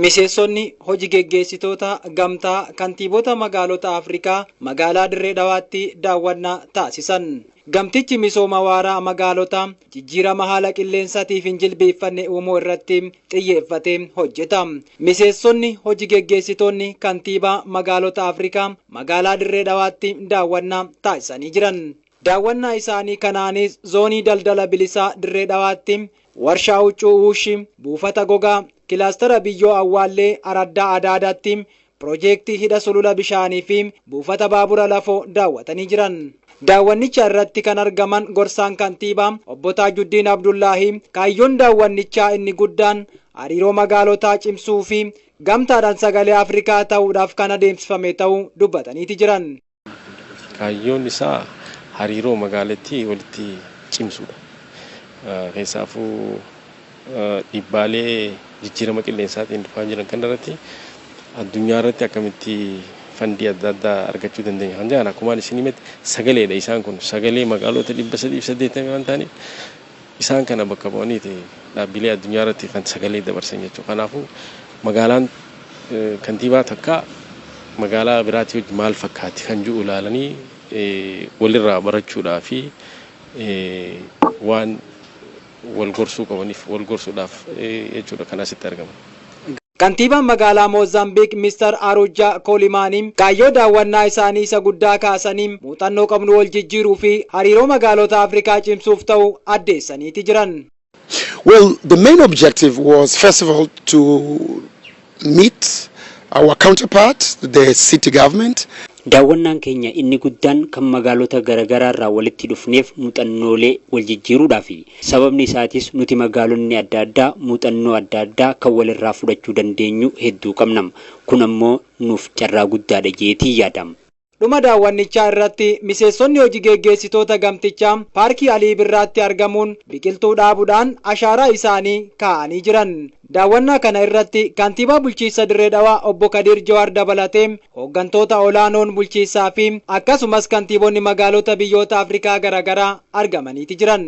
Miseensonni hoji geggeessitoota gamtaa kantiibota magaalota Afrikaa magaalaa Dirree Dhawaatti daawwannaa taasisan. Gamtichi misooma waaraa magaalota jijjiirama haala qilleensatiif hin jilbiiffanne uumuu irratti xiyyeeffatee hojjeta. Miseensonni hoji geggeessitoonni kantiibaa magaalota Afrikaa magaalaa Dirree Dhawaatti daawwannaa taasisanii jiran. Daawwannaa isaanii kanaanis Zoonii Daldala Bilisaa Dirree Dhawaatti Warshaa Huccuu Wuushi, Buufata Gogaa, Kilaastara Biyyoo Awwaallee Araddaa Adaadaatti Pirojeektii Hidha Sulula Bishaanii fi Buufata Baabura Lafoo daawwatanii jiran. Daawwannicha irratti kan argaman Gorsaan Kantiibaa Obbo Taajuddiin Abdullaahii kaayyoon daawwannichaa inni guddaan hariiroo magaalotaa cimsuu fi gamtaadhaan sagalee Afrikaa ta'uudhaaf kan adeemsifame ta'uu dubbataniiti jiran. Kaayyoon isaa hariiroo magaalattii walitti cimsuudha. Keessaafuu dhiibbaalee jijjiirama qilleensaatiin dhufaa jiran kanarratti addunyaa irratti akkamitti fandii adda addaa argachuu dandeenya kan jedhan akkumaan isin himetti sagaleedha isaan kun sagalee magaalota dhibba sadiif saddeettamii waan ta'aniif Isaan kana bakka bu'aniiti dhaabbilee addunyaa irratti kan sagalee dabarsan jechuudha. Kanaafuu magaalaan kantiibaa takkaa magaalaa biraatii wajji maal fakkaatti kan jiru ilaalanii walirraa barachuudhaa fi waan wal gorsuu qabaniif wal gorsuudhaaf jechuudha kan asitti argaman. Kantiibaan magaalaa Moozaambiik Mister Arujaa Koolimaanii kaayyoo daawwannaa isaanii isa guddaa kaasanii muuxannoo qabnu wal jijjiiruu fi hariiroo magaalota Afrikaa cimsuuf ta'uu addeessaniiti jiran. Well, the main objective was first of all to meet our counterpart, the city government. Daawwannaan keenya inni guddaan kan magaalota garagaraarraa walitti dhufneef muxannoolee waljijjiiruudhaafi. Sababni isaatis nuti magaalonni adda addaa muuxannoo adda addaa kan walirraa fudhachuu dandeenyu hedduu qabnam. Kun ammoo nuuf carraa guddaadha jeetiin yaadam. Dhuma daawwannichaa irratti miseessonni hoji geeggeessitoota gamtichaa Paarkii Alii Birraatti argamuun biqiltuu dhaabudhaan ashaaraa isaanii kaa'anii jiran. Daawwannaa kana irratti Kantiibaa Bulchiinsa Dirree Dhawaa Obbo Kadiir Jawaar dabalatee hooggantoota olaanoon bulchiinsaa fi akkasumas kantiibonni magaalota biyyoota Afrikaa garaagaraa argamaniiti jiran.